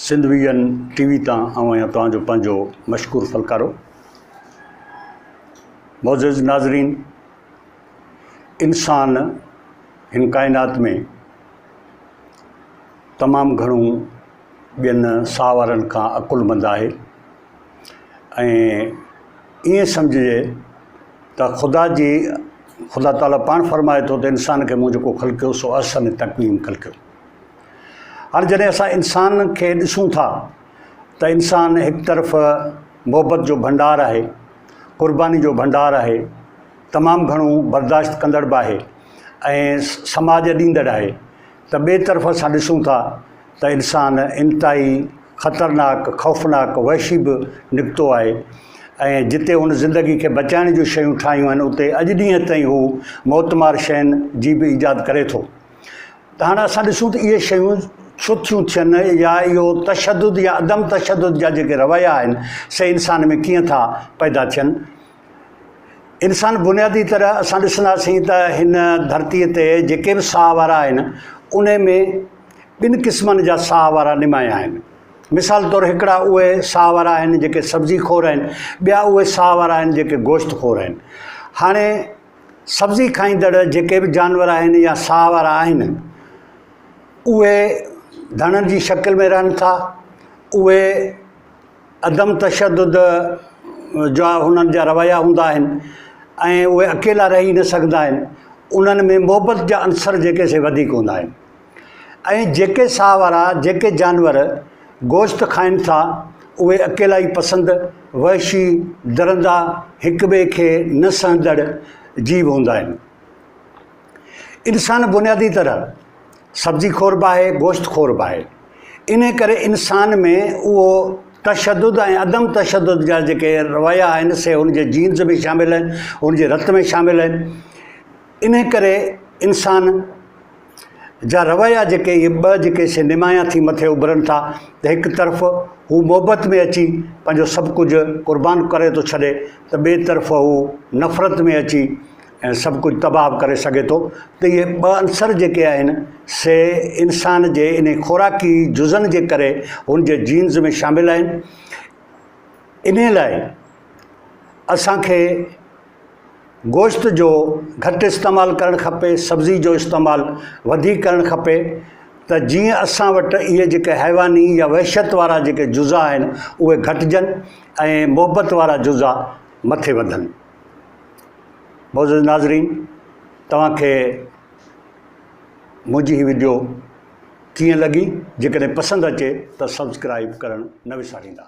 Sindh vision T V تان آئون آهيان توهان جو پنهنجو مشڪور فلڪارو معزز ناظرين انسان هن ڪائنات ۾ تمام گهڻو ٻين ساهه وارن کان عقل مند آهي ۽ ائين سمجهجي ته خدا جي خدا تعاليٰ پاڻ فرمائي ٿو ته انسان کي مون جيڪو خلقيو سو احسن تقويم خلقيو هاڻ جڏهن اسان انسان کي ڏسون ٿا ته انسان هڪ طرف محبت جو ڀنڊار آهي قرباني جو ڀنڊار آهي تمام گهڻو برداشت ڪندڙ به آهي ۽ سماج ڏيندڙ آهي ته ٻئي طرف اسان ڏسون ٿا ته انسان انتهائي خطرناڪ خوفناڪ وحشي به نڪتو آهي ۽ جتي هن زندگي کي بچائڻ جون شيون ٺاهيون آهن اتي اڄ ڏينهن تائين هو موتمار شين جي به ايجاد ڪري ٿو ته هاڻ اسان ڏسون ته اهي شيون ڇو ٿيون ٿين يا اهو تشدد يا عدم تشدد جا جيڪي رويا آهن سي انسان ۾ ڪيئن ٿا پيدا ٿين انسان بنيادي طرح اسان ڏسنداسين ته هن ڌرتيء تي جيڪي به ساهه وارا آهن ان ۾ ٻن قسمن جا ساهه وارا نمايان آهن مثال طور هڪڙا اهي ساهه وارا آهن جيڪي سبزي خور آهن ٻيا اهي ساهه وارا آهن جيڪي گوشت خور آهن هاڻي سبزي کائيندڙ جيڪي به جانور آهن يا ساهه وارا آهن اهي ڌڻن جي شڪل ۾ رهن ٿا اهي عدم تشدد جا هنن جا رويا هوندا آهن ۽ اهي اڪيلا رهي نه سگهندا آهن انهن ۾ محبت جا عنصر جيڪي سي وڌيڪ هوندا آهن ۽ جيڪي ساهه وارا جيڪي جانور گوشت کائن ٿا اهي اڪيلائي پسند، وحشي، درندا، هڪ ٻئي کي نه سهندڙ جيو هوندا آهن. انسان بنيادي طرح سبزي خور به آهي، گوشت خور به آهي. انهي ڪري انسان ۾ اهو تشدد ۽ عدم تشدد جا جيڪي رويا آهن سي هن جي جينز ۾ شامل آهن، هن جي رت ۾ شامل آهن. انهي ڪري انسان. جا رويا جيڪي اهي ٻه جيڪي سينيمايا ٿي مٿي اڀرن ٿا ته هڪ طرف هو محبت ۾ اچي پنهنجو سڀ ڪجهه قربان ڪري ٿو ڇڏي ته ٻئي طرف هو نفرت ۾ اچي ۽ سڀ ڪجهه تباهه ڪري سگهي ٿو ته اهي ٻه عنصر جيڪي آهن سي انسان جي انهي خوراڪي جزن جي ڪري هن جي جينز ۾ شامل آهن انهي لاء اسان کي گوشت جو گهٽ استعمال ڪرڻ کپي سبزي جو استعمال وڌيڪ ڪرڻ کپي ته جيئن اسان وٽ اهي جيڪي حيواني يا وحشت وارا جيڪي جزا آهن اهي گهٽجن ۽ محبت وارا جزا مٿي وڌن معزز ناظرين توهان کي منهنجي هي ويڊيو ڪيئن لڳي جيڪڏهن پسند اچي ته سبسڪرائب ڪرڻ نه وساريندا